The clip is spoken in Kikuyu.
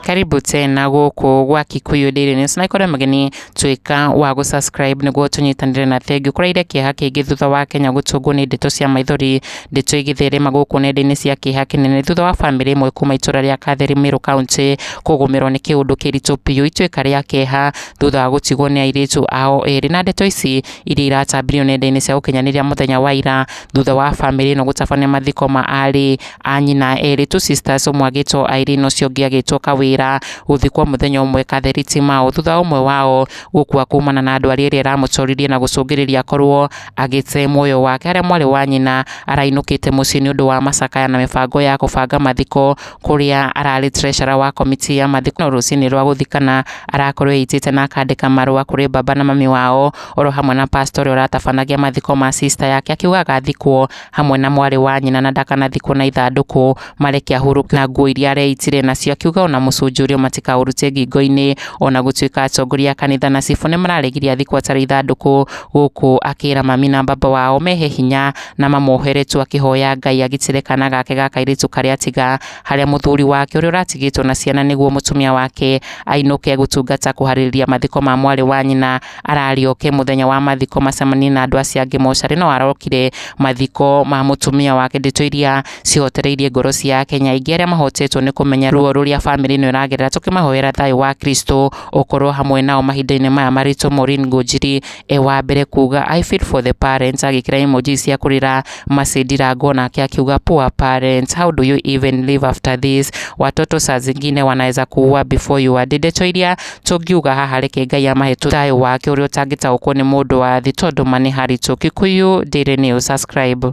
karibu tena gũkũ gwa Kikuyu Daily News na ikorwo mũgeni tuĩka wa gũ subscribe nĩguo tũnyitanĩre na thengiũ kũraire kĩeha kĩngĩ thutha wa Kenya gũtũngwo nĩ ndeto cia maithori ndeto igĩtherema gũkũ nenda-inĩ cia kĩeha kĩnene thutha wa bamĩrĩ ĩmwe kuma itũra rĩa Katheri Meru County kũgũmĩrwo nĩ kĩũndũ kĩritũ biũ ituĩka rĩa kĩeha thutha wa gũtigwo nĩ airĩtu ao erĩ na ndeto ici iria iratambirio nenda-inĩ cia ũkinyanĩria mũthenya wa ira thutha wa bamĩrĩ ĩno gũtabania mathiko ma aarĩ a nyina erĩ two sisters ũmwe agĩtwo Irene ũcio ũngĩ agĩtwo Kawĩra gũthikwo mũthenya ũmwe Katheri Timao thutha wa ũmwe wao gũkua kumana na ndwari ĩrĩa ĩramũtoririe na gũcũngĩrĩria korwo agĩte muoyo wake harĩa mwarĩ wa nyina arainũkĩte mũciĩ nĩ ũndũ wa macakaya na mĩbango ya kũbanga mathiko kũrĩa ararĩ treasurer wa komiti ya mathiko no rũcinĩ rwa gũthiĩ kana arakorwo eitĩte na akandĩka marũa kũrĩ baba na mami wao oro hamwe na pastor ũrĩa ũratabanagia mathiko ma sister yake akiuga agathikwo hamwe na mwarĩ wa nyina na ndakanathikwo na ithandũkũ mareke ahurũke na nguo iria areitire nacio akiuga ona mũcunjũ ũrĩa matikaũrute ngingo-inĩ ona gũtuĩka atongoria a kanitha na cibũ nĩ mararegirie athikwo atarĩ ithandũkũ gũkũ akĩra mami na baba wao mehe hinya na mamoheretwo akĩhoya Ngai agitĩre kana gake ga kairĩtu karĩa tiga harĩa mũthuri wake ũrĩa ũratigĩtwo na ciana nĩguo mũtumia wake ainũke gũtungata kũharĩrĩria mathiko ma mwarĩ wa nyina ararĩoke mũthenya wa mathiko macemanie na andũ acio angĩ mocarĩ no arokire mathiko ma mũtumia wake ndeto iria cihotereirie ngoro cia Akenya aingĩ arĩa mahotetwo nĩ kũmenya ruo rũrĩa bamĩrĩ ĩno ĩragerera tũkĩmahoera thayũ wa Kristo ũkorwo hamwe nao mahinda-inĩ maya maritũ Maureen Ngũnjiri e wa mbere kuga I feel for the parents agĩkĩra emoji cia kũrĩra Mercy Ndirango nake akiuga poor parents how do you even live after this watoto saa zingine wanaweza kuua before you are ndeto iria tũngiuga haha reke Ngai amahe thayũ wake ũrĩa ũtangĩtaũkwo nĩ mũndũ wa thĩ tondũ manĩ haritũ Kikuyu Daily News subscribe